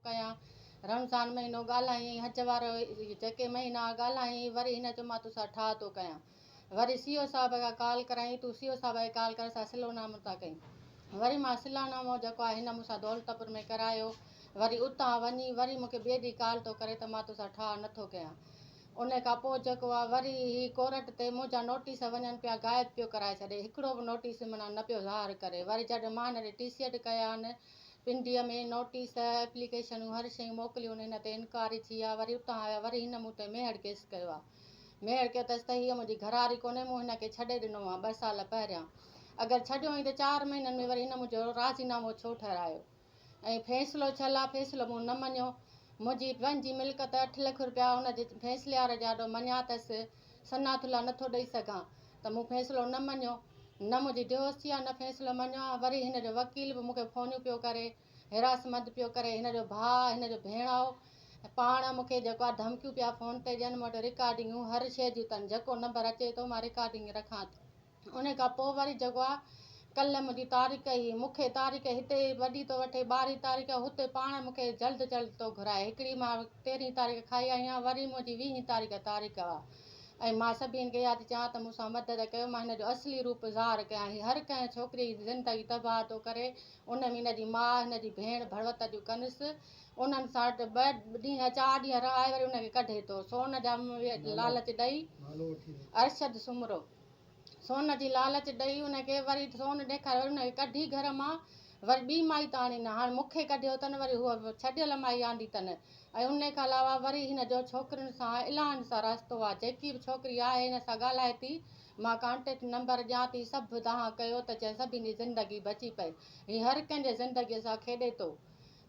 ڪيان رمضان مهينو ڳالهائين حج وارو جيڪي مهينا ڳالهائين وري هن چيو مان توسان ٺاهه ٿو ڪيان وري سي او صاحب کان ڪال ڪرايائين تون سي او صاحب کي ڪال ڪر اسان صلح نامو ٿا ڪيون وري مان صلح نامو جيڪو آهي هن مونسان دولتپور ۾ ڪرايو وري اتان وڃي وري مونکي ٻئي ڏينهن ڪال ٿو ڪري ته مان توسان ٺاهه نٿو ڪيان ان کان پوء جيڪو آهي وري هي ڪورٽ تي منهنجا نوٽيس وڃن پيا غائب پيو ڪرائي ڇڏي هڪڙو به نوٽيس منا نه پيو ظاهر ڪري وري جڏهن مان هن ڏي ٽي سي ايڊ ڪيان پنڊيء ۾ نوٽيس، ايپليڪيشنون، هر شيء موڪليون، هن تي انڪاري ٿي آء وري اتان آيو، وري هن مون تي ميهڙ ڪيس ڪيو آ. ميهڙ ڪيو تس ته هيء منهنجي گهراري ڪونهي، مون هن کي ڇڏي ڏنو آ ٻه سال پهريان. اگر ڇڏيو هئين ته چار مهينن ۾ وري هن منهنجو راضي نامو ڇو ٺهرايو؟ ۽ فيصلو ڇل آ، فيصلو مون نه مڃيو. منهنجي پنهنجي ملڪت اٺ لک روپيا هن جي فيصليار جي آڏو مڃيا تس. صنعت الله نٿو ڏئي سگهان ته مون فيصلو نه مڃيو، نه منهنجي ديوستي آ نه فيصلو مڃيو آ، وري هن جو وڪيل به مون کي فونيون پيو ڪري، هراسمنت پيو ڪري، هن جو ڀاء، هن جو ڀيڻائو ۽ پاڻ مون کي جيڪو آ ڌمڪيون پيا فون تي ڏين، مون وٽ رڪارڊنگون هر شيء جون تن، جيڪو نمبر اچي ٿو مان رڪارڊنگ رکان ٿو. انهيء کان پوء وري جيڪو آ ڪلهه منهنجي تاريخ هي، مون کي تاريخ هتي ئي وڍي ٿو وٺي، ٻارهين تاريخ هتي پاڻ مون کي جلد جلد ٿو گهرائي. هڪڙي مان تيرهين تاريخ کائي آئي آهيان، وري منهنجي ويهين تاريخ تاريخ آ ۽ مان سڀني کي اها ٿي چوان ته مون سان مدد ڪيو، مان هن جو اصلي روپ ظاهر ڪيان. هي هر ڪنهن ڇوڪريء جي زندگي تباهه ٿو ڪري، ان ۾ هن جي ماء، هن جي ڀيڻ ڀروت جون ڪنس، انهن سان ٻه ڏينهن چار ڏينهن رهائي وري ان کي ڪڍي ٿو، سون جا لالچ ڏئي. ارشد سومرو. سون جي لالچ ڏئي ان کي وري سون ڏيکاري وري ان کي ڪڍي گهر مان وري ٻي مائي ته آڻي نه هاڻي مون کي ڪڍيو اٿن وري هوء ڇڏيل مائي آندي اٿن ۽ ان کان علاوه وري هن جو ڇوڪرين سان الائن سان رستو آ جيڪي به ڇوڪري آهي هن سان ڳالهائي ٿي مان ڪانٽيڪٽ نمبر ڏيان ٿي سڀ دانهن ڪيو ته جئين سڀني جي زندگي بچي پئي هي هر ڪنهن جي زندگي سان کيڏي ٿو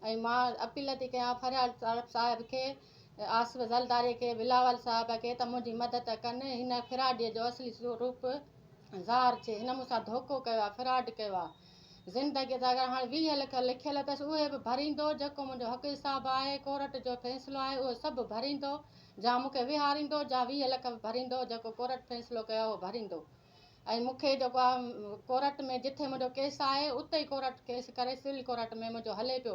۽ مان اپيل ٿي ڪيان فريال طارق صاحب کي، آصف زرداري کي، بلاول صاحب کي ته منهنجي مدد ڪن، هن فراڊيء جو اصلي روپ ظاهر ٿئي، هن مون سان ڌوڪو ڪيو آهي، فراڊ ڪيو آهي، زندگيء جا اگر هاڻ ويهه لک لکيل اٿس اهي به ڀريندو، جيڪو منهنجو حق حساب آهي، ڪورٽ جو فيصلو آهي اهو سڀ ڀريندو، جا مون کي ويهاريندو، جا ويهه لک به ڀريندو، جيڪو ڪورٽ فيصلو ڪيو آهي اهو ڀريندو. ۽ مون کي جيڪو آ ڪورٽ ۾ جتي منهنجو ڪيس آهي اتي ئي ڪورٽ ڪيس ڪري سول ڪورٽ ۾ منهنجو هلي پيو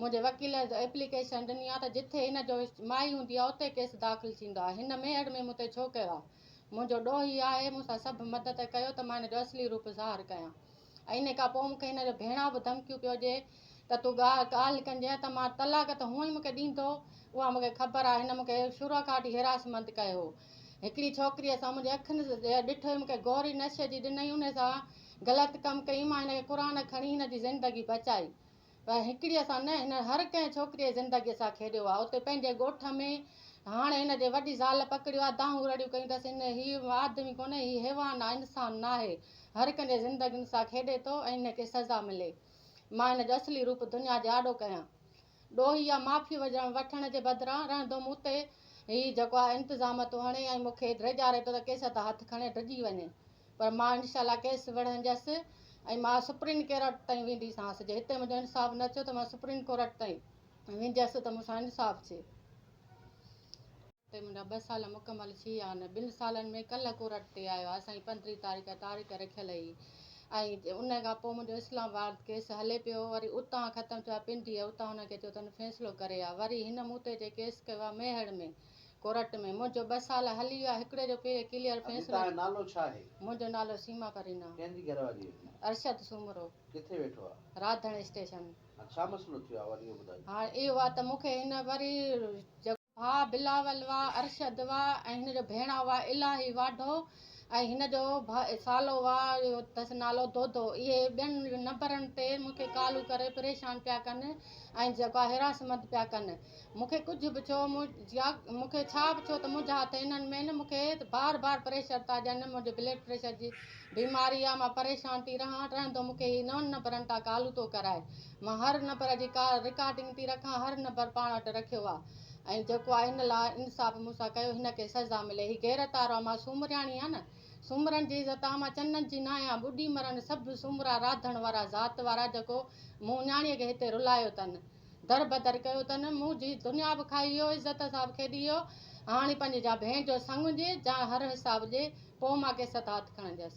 منهنجي وڪيل ايپليڪيشن ڏني آ ته جتي هن جو مائي هوندي آ اتي ڪيس داخل ٿيندو آ هن ميهڙ ۾ مون تي ڇو ڪيو آ منهنجو ڏوهي آهي مون سان سڀ مدد ڪيو ته مان هن جو اصلي روپ ظاهر ڪيان ۽ ان کان پوء مون کي هن جو ڀيڻان به ڌمڪيون پيو ڏي ته تون ڳالهه ڪنجانء ته مان طلاق ته هونئن مون کي ڏيندو، اها مون کي خبر آهي، هن مون کي شروع کان وٺي حراسمند ڪيو هو. هڪڙي ڇوڪريء سان منهنجي اکين ڏٺو هي، مون کي گوري نشي جي ڏنئي، انهي سان غلط ڪم ڪيم، مان هن کي قرآن کڻي هن جي زندگي بچائي. پر هڪڙيء سان نه، هن هر ڪنهن ڇوڪريء جي زندگيء سان کيڏيو آهي. اتي پنهنجي ڳوٺ ۾، هاڻ هن جي وڏي زال پڪڙيو آهي، دانهون رڙيون ڪيون اٿس، هن، هي آدمي ڪونهي، هي حيوان آهي، انسان ناهي. هر ڪنهن جي زندگين سان کيڏي ٿو ۽ هن کي سزا ملي. مان هن جو اصلي روپ دنيا جي آڏو ڪيان. ڏوهي يا معافي وٺڻ جي بدران، رهندو مون تي هي جيڪو آهي انتظام ٿو هڻي ۽ مون کي ڊيڄاري ٿو ته ڪيس تان هٿ کڻي ڊڄي وڃي. پر مان انشاء الله ڪيس وڙهنديس ۽ مان سپريم ڪيورٽ تائين وينديسانس جي هتي منهنجو انصاف نه ٿيو ته مان سپريم ڪورٽ تائين وينديس ته مون سان انصاف ٿئي. هتي منهنجا ٻه سال مڪمل ٿي ويا آهن ٻن سالن ۾ ڪلهه ڪورٽ تي آيو آهي سائين پندرهين تاريخ تاريخ رکيل هئي ۽ ان کان پوء منهنجو اسلام آباد ڪيس هلي پيو وري اتان ختم ٿيو آهي پنڊيء اتان هن کي ٿيو اٿن فيصلو ڪري آ وري هن مون تي جي ڪيس ڪيو آهي ميهڙ ۾ ڪورٽ ۾ منهنجو ٻه سال هلي ويا هڪڙي جو پهرين ڪليئر فيصلو ٿيو. اڄ تنهنجو نالو ڇا آهي؟ منهنجو نالو سيما پرينا. ڪنهن جي گهر واري آهين؟ ارشد سومرو. ڪٿي ويٺو آهي؟ راڌڻ اسٽيشن. هاڻ ڇا مسئلو ٿيو آهي وري اهو ٻڌاء. هاڻ اهو آهي ته مون کي هن وري. ڀاء بلاول وا ارشد وا ۽ هن جو ڀيڻا وا الاهي واڍو ۽ هن جو ڀاء سالو وا اهو اٿس نالو دودو اهي ٻين نمبرن تي مون کي ڪالون ڪري پريشان پيا ڪن ۽ جيڪو آهي حراسمنت پيا ڪن. مون کي ڪجهه به ڇو يا مون کي ڇا به ڇو ته منهنجا هٿ انهن ۾ نه مون کي بار بار پريشر ٿا ڏين نه منهنجي بلڊ پريشر جي بيماري آهي مان پريشان ٿي رهان رهندو مون کي هي نون نمبرن تان ڪالون ٿو ڪرائي مان هر نمبر جي ڪال رڪارڊنگ ٿي رکان هر نمبر پاڻ وٽ رکيو آهي ۽ جيڪو آهي ان لا انصاف مون سان ڪيو هن کي سزا ملي هي غيرت وارو آهي مان سومرياڻي آهيان نه سومرن جي عزت آهي مان چنن جي نه آهيان ٻڏي مرن سڀ سومرا راڌڻ وارا ذات وارا جيڪو مون نياڻي کي هتي رلايو تن در بدر ڪيو تن مون جي دنيا به کائي ويو عزت حساب کيڏي ويو هاڻي پنهنجي جا ڀين جو سڱ هجي جا هر حساب ڏي پوء مان ڪيس ست هٿ کڻنديس.